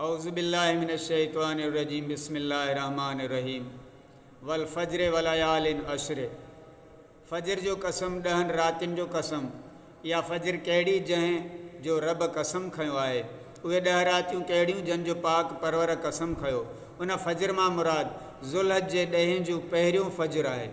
اعوذ باللہ من الشیطان الرجیم بسم اللہ الرحمن الرحیم والفجر وليال عشر فجر جو قسم ڏهن راتين جو قسم يا فجر ڪهڙي جنهن جو رب قسم کنيو آهي اهي ڏهه راتيون ڪهڙيون جن جو پاڪ پرور قسم کنيو ان فجر مان مراد ذوالحج جي ڏهين جو پهريون فجر آهي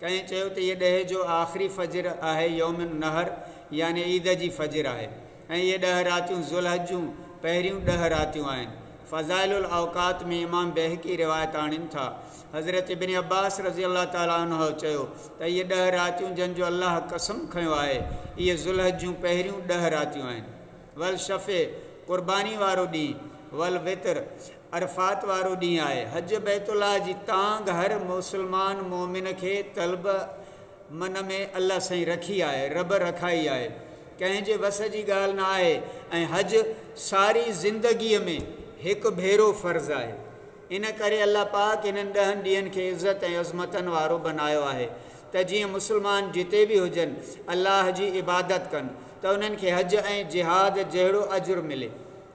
ڪئين چيو ته هيء ڏهه جو آخري فجر آهي يوم النحر يعني عيد جي فجر آهي ۽ اهي ڏهه راتيون ذوالحج جون پهريون ڏهه راتيون آهن. فضائل الاوقات ۾ امام بيهقي روايت آڻين ٿا، حضرت ابن عباس رضي الله تعالٰي عنه چيو ته اهي ڏهه راتيون جن جو الله قسم کنيو آهي، اهي ذوالحج جون پهريون ڏهه راتيون آهن. والشفع، قرباني وارو ڏينهن، والوتر، عرفات وارو ڏينهن آهي. حج بيت الله جي تانگهه هر مسلمان مؤمن کي طلب من ۾ الله سائين رکي آهي، رب رکائي آهي، ڪنهن جي وس جي ڳالهه نه آهي ۽ حج ساري زندگيء ۾ هڪ ڀيرو فرض آهي. ان ڪري الله پاڪ انهن ڏهن ڏينهن کي عزت ۽ عظمتن وارو بنايو آهي ته جيئن مسلمان جتي به هجن الله جي عبادت ڪن ته انهن کي حج ۽ جهاد جهڙو اجر ملي.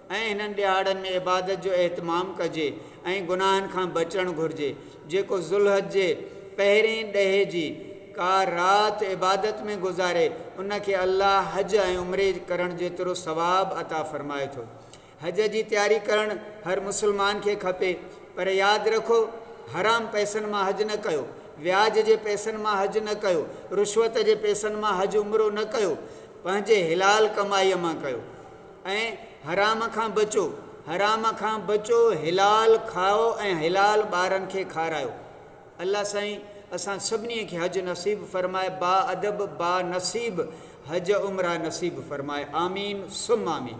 ۽ انهن ڏهاڙن ۾ عبادت جو اهتمام ڪجي ۽ گناهن کان بچڻ گهرجي، جيڪو ذوالحج جي پهرئين ڏهي جي ڪا رات عبادت ۾ گذاري ان کي الله حج ۽ عمري ڪرڻ جيترو ثواب عطا فرمائي ٿو. حج جي تياري ڪرڻ هر مسلمان کي کپي پر ياد رکو حرام پئسن مان حج نه ڪيو، وياج جي پئسن مان حج نه ڪيو، رشوت جي پئسن مان حج عمرو نه ڪيو، پنهنجي حلال ڪمائي مان ڪيو. ۽ حرام کان بچو، حرام کان بچو، حلال کائو ۽ حلال ٻارن کي کارايو. الله سائين اسان سڀني کي حج نصيب فرمائي با ادب با نصيب حج عمره نصيب فرمائي آمين ثم آمين.